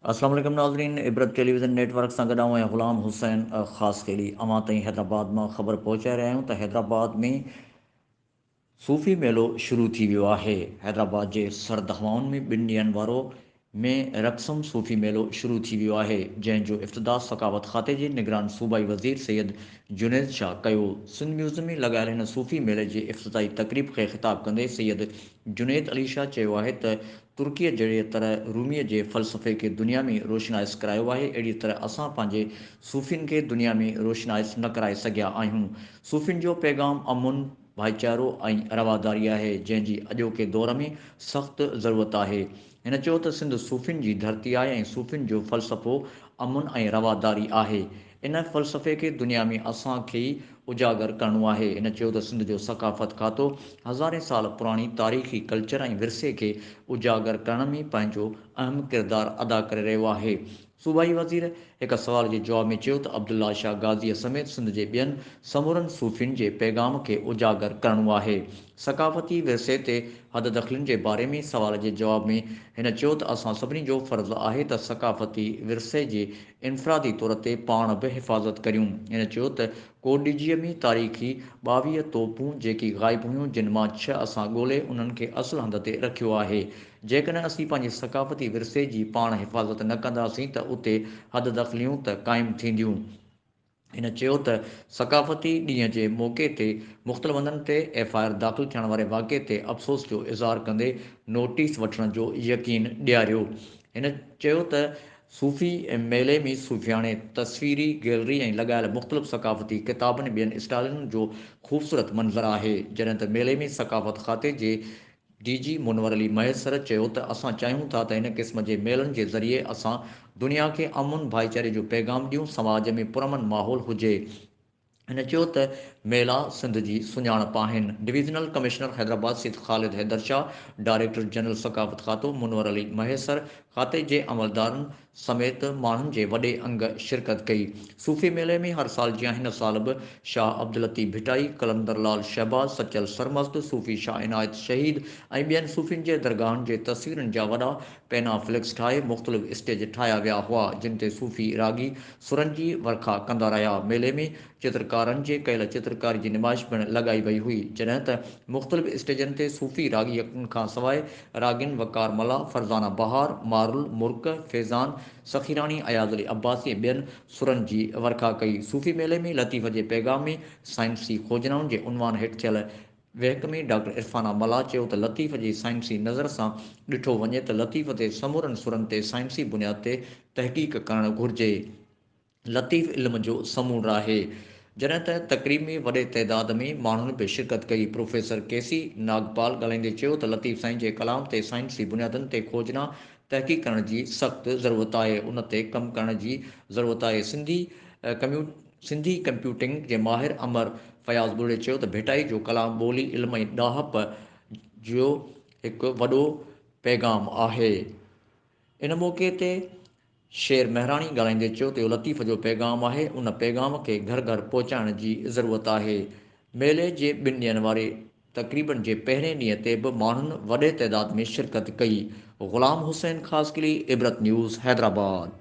السلام عليڪم ناظرين Ibrat television network سان گڏ آئون غلام حسين خاص خيلي اوهان تائين حيدرآباد مان خبر پهچائي رهيا آهيون ته حيدرآباد ۾ صوفي ميلو شروع ٿي ويو آهي. حيدرآباد جي سرد هوائن ۾ ٻن ڏينهن وارو مي رقصم صوفي ميلو شروع ٿي ويو آهي، جنهن جو افتتاح ثقافت کاتي جي نگران صوبائي وزير سيد جنيد شاهه ڪيو. سنڌ ميوزيم ۾ لڳايل هن صوفي ميلي جي افتتاحي تقريب کي خطاب ڪندي سيد جنيد علي شاهه چيو آهي ته ترڪيء جهڙيء طرح روميء جي فلسفي کي دنيا ۾ روشنائس ڪرايو آهي، اهڙيء طرح اسان پنهنجي صوفين کي دنيا ۾ روشنائس نه ڪرائي سگهيا آهيون. صوفين جو پيغام امن، ڀائيچارو ۽ رواداري آهي، جنهن جي اڄوڪي دور ۾ سخت ضرورت آهي. هن چيو ته سنڌ صوفين جي ڌرتي آهي ۽ صوفين جو فلسفو امن ۽ رواداري آهي. ان فلسفي کي دنيا ۾ اسان کي ئي اجاگر ڪرڻو آهي. هن چيو ته سنڌ جو ثقافت کاتو هزارين سال پراڻي تاريخي ڪلچر ۽ ورثي کي اجاگر ڪرڻ ۾ پنهنجو اهم ڪردار ادا ڪري رهيو آهي. صوبائي وزير هڪ سوال جي جواب ۾ چيو ته عبدالله شاهه غازيء سميت سنڌ جي ٻين سمورن صوفين جي پيغام کي اجاگر ڪرڻو آهي. ثقافتي ورثي تي حد دخلين جي باري ۾ سوال جي جواب ۾ هن چيو ته اسان سڀني جو فرض آهي ته ثقافتي ورثي جي انفرادي طور تي پاڻ به حفاظت ڪريون. هن چيو ته ڪوڏجيء ۾ تاريخي ٻاويهه توپون جيڪي غائب هيون جن مان ڇهه اسان ڳولي انهن کي اصل هنڌ تي رکيو آهي. جيڪڏهن اسين پنهنجي ثقافتي ورثي جي پاڻ حفاظت نه ڪنداسين ته اتي حد دخليون ته قائم ٿينديون. هن چيو ته ثقافتي ڏينهن جي موقعي تي مختلف هنڌن تي ايف آء آر داخل ٿيڻ واري واقعي تي افسوس جو اظهار ڪندي نوٽيس وٺڻ جو يقين ڏياريو. هن چيو ته صوفي ميلي ۾ صوفياڻي تصويري گيلري ۽ لڳايل مختلف ثقافتي ڪتابن ٻين اسٽالن جو خوبصورت منظر آهي جڏهن ته ميلي ۾ ثقافت کاتي جي ڊي جي منور علي مهيسر چيو ته اسان چاهيون ٿا ته هن قسم جي ميلن جي ذريعي اسان دنيا کي امن ڀائيچاري جو پيغام ڏيون سماج ۾ پرامن ماحول هجي هن چيو ته ميلا سنڌ جي سڃاڻپ آهن divisional commissioner Hyderabad Syed Khalid Haider Shah director general ثقافت کاتو منور علي مهيسر کاتي جي عملدارن سميت ماڻهن جي وڏي انگ شرڪت ڪئي. صوفي ميلي ۾ هر سال جيان هن سال به شاهه عبداللطيف ڀٽائي، قلندر لعل شهباز، سچل سرمست، صوفي شاهه عنايت شهيد ۽ ٻين صوفين جي درگاهن جي تصويرن جا وڏا پينا فليڪس ٺاهي مختلف اسٽيج ٺاهيا ويا هئا جن تي صوفي راڳي سرن جي ورکا ڪندا رهيا ميلي ۾ چترڪارن جي ڪيل چترڪاري جي نمائش پڻ لڳائي وئي هئي، جڏهن ته مختلف اسٽيجن تي صوفي راڳين کان سواء راڳين وقار ملاح، فرزانه بهار، مارل مرڪ، فيضان سخيراڻي، اياز علي عباسي ۽ ٻين سرن جي ورکا ڪئي. صوفي ميلي ۾ لطيف جي پيغام ۾ سائنسي کوجنائن جي عنوان هيٺ ٿيل وهڪ ۾ ڊاڪٽر عرفانه ملاح چيو ته لطيف جي سائنسي نظر سان ڏٺو وڃي ته لطيف تي سمورن سرن تي سائنسي بنياد تي تحقيق ڪرڻ گهرجي. لطيف علم جو سمونڊ آهي. جڏهن ته تقريب ۾ وڏي تعداد ۾ ماڻهن به شرڪت ڪئي. پروفيسر ڪي سي ناگپال ڳالهائيندي چيو ته لطيف سائين جي ڪلام تي سائنسي بنيادن تي کوجنا تحقيق ڪرڻ جي سخت ضرورت آهي ان تي ڪم ڪرڻ جي ضرورت آهي سنڌي ڪميو سنڌي ڪمپيوٽنگ جي ماهر امر فياض ٻرڙي چيو ته ڀٽائي جو ڪلام ٻولي علم ۽ ڏاهپ جو هڪ وڏو پيغام آهي ان موقعي تي شير مهراڻي ڳالهائيندي چيو ته اهو لطيف جو پيغام آهي، ان پيغام کي گهر گهر پهچائڻ جي ضرورت آهي، ميلي جي ٻن ڏينهن واري تقريبن جي پهرين ڏينهن تي به ماڻهن وڏي تعداد ۾ شرڪت ڪئي. غلام حسين خاصخيلي، عبرت نيوز، حيدرآباد.